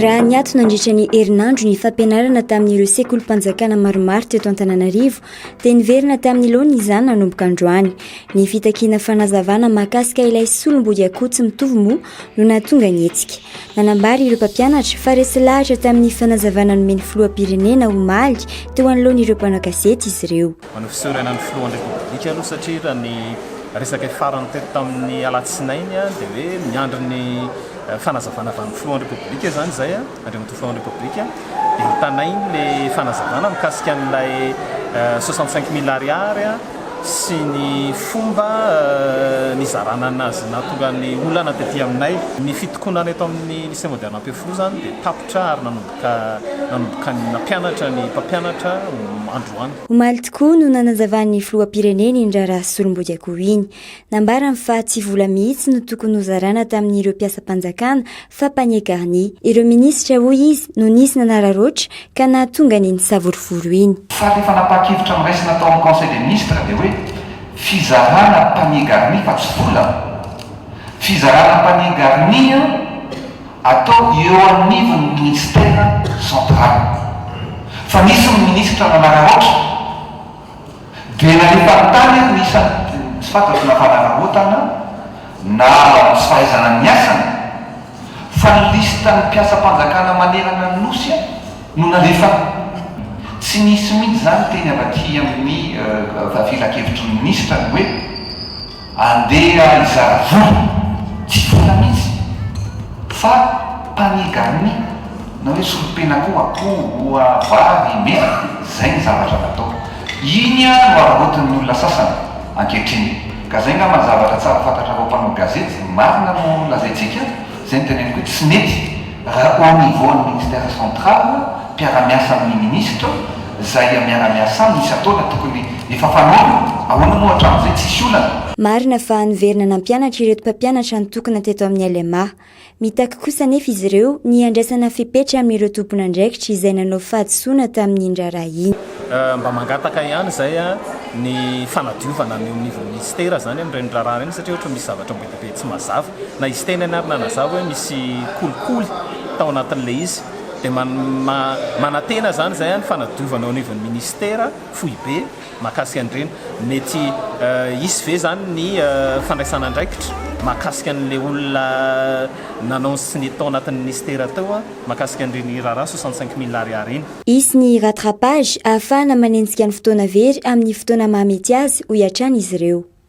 Raha niato nandritra ny herinandro ny fampianarana tamin'ireo sekolim-panjakana maromaro teto Antananarivo dia niverina tamin'ny laona izany nanomboka androany. Ny fitakiana fanazavana mahakasika ilay solombody akoho tsy mitovy moa no nahatonga ny hetsika. Nanambara ireo mpampianatra fa resy lahatra tamin'ny fanazavana nomeny filoham-pirenena omaly teo anoloan'ireo mpanao gazety izy ireo. Manao fisaorana ny filohan'ny Repoblika aloha satria raha ny resaka farany teto tamin'ny alatsinainy dia hoe miandry ny fanazavana avy amin'ny filohan'ny Repoblika izany izay, Andriamatoa filohan'ny Repoblika dia hitanainy ilay fanazavana mikasika an'ilay soixante cinq mille ariary sy ny fomba nizarana an'azy nahatonga ny olana tety aminay. Ny fitokonana eto amin'ny Lycée Moderne Ampefiloha izany dia tapitra ary nanomboka. ka nanomboka nampianatra ny mpampianatra androany. Omaly tokoa no nanazavan'ny filoham-pirenena iny raharaha solombodiakoho iny. Nambarany fa tsy vola mihitsy no tokony hozarana tamin'ireo mpiasam-panjakana fa panier garni. Ireo minisitra, hoy izy, no nisy nanararaotra ka nahatonga an'iny savorovoro iny. Sady efa napahan-kevitra noraisina tao amin'ny Conseil des ministres dia hoe fizarana panier garni fa tsy vola. Fizarana panier garni an! atao eo anivon'ny Minisitera Central. Fa nisy ny Minisitra nanararaotra dia nalefany tany ary ny isany dia tsy fantatro na fanararaotana na tsy fahaizana ny asany fa ny listan'ny mpiasam-panjakana manerana ny Nosy no nalefany. Tsy nisy mihitsy izany teny avy aty amin'ny Filankevitry ny Minisitra ny hoe. Andeha hizara vola, tsy vola mihitsy fa panigami na hoe solompena koa, akoho, oa, vary, mena, zay ny zavatra natao. Iny an no araraotin'ny olona sasany ankehitriny. Ka zay ngamba ny zavatra tsara fantatrareo mpanao gazety, marina no lazaintsika? Izay no teneniko hoe tsy mety raha au niveau ny ministère central mpiara-miasa amin'ny ministre izay miara-miasa aminy isan-taona tokony efa fanaony, ahoana moa hatramin'izay tsisy olana? Marina fa niverina nampianatra ireto mpampianatra nitokona teto amin'ny LMA. Mitaky kosa anefa izy ireo ny handraisana fepetra amin'ireo tompon'andraikitra izay nanao fahadisoana tamin'iny raharaha iny. Mba mangataka ihany izay ny fanadiovana any au niveau ministère izany amin'ireny raharaha ireny satria ohatra misy zavatra be dia be tsy mazava. Na izy tenany ary nanazava hoe misy kolikoly tao anatin'ilay izy. Dia manantena izany izay ny fanadiovana eo anivon'ny minisitera, foibe, mahakasika an'ireny. Mety hisy ve izany ny fandraisana andraikitra mahakasika an'ilay olona nanao ny SNIT tao anatin'ny minisitera teo mahakasika an'ireny raharaha soixante cinq mille ariary iny? Hisy ny rattrapage ahafahana manenjika ny fotoana very amin'ny fotoana mahamety azy, hoy hatrany izy ireo.